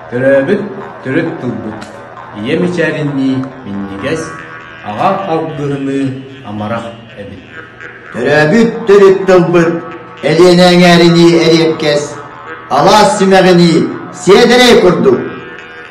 Төрөөбүт төрүт тылбыт ийэ мичээринии минньигэс, аҕа алгыһыныы амарах эбит. Төрөөбүт төрүт тылбыт Элиэнэ эҥээринии эриэккэс, алаас симэҕинии сиэдэрэй курдук.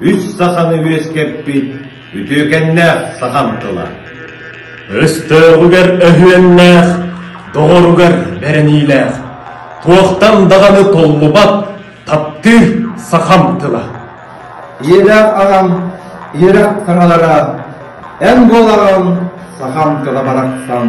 Үс саханы үөскэппит үтүөкэннээх сахам тыла. Өстөөҕүгэр өһүөннээх, доҕоругар бэриниилээх, туохтан даҕаны толлубат таптыыр сахам тыла. Үөрэх аҕам, үөрэх кыралара, эн буолаҕын сахам тыла барахсан.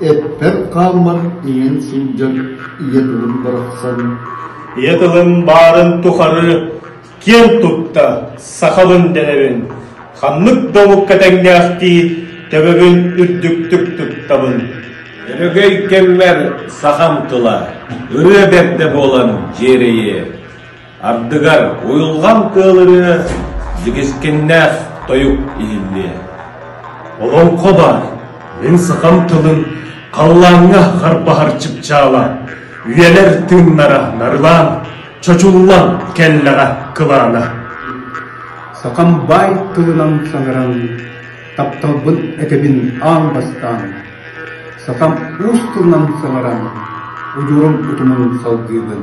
Эппэт хааммат иҥэн сылдьан ийэ тылын барахсан ийэ тылым баарын тухары киэн тутта сахабын дэнэбин ханнык да омукка тэҥнээхтии төбөбүн үрдүктүк туттабын өрөгөй кэммэр сахам тыла ырыа бэрдэ буолан дьиэрэйиэ Ардыгар уйулҕан кыалырыа, дьигискиннээх тойук иһиллиэ. Олоҥхо баар, мин сахам тылын халлааҥҥа харбаһар чыпчаала, үйэлэр тыыннара нарылаан, чочуллан кэллэҕэ кылаана. Сахам баай тылынан саҥаран, тапталбын этэбин аан бастаан. Сахам уус тылынан саҥаран, удурум утумун салгыыбын.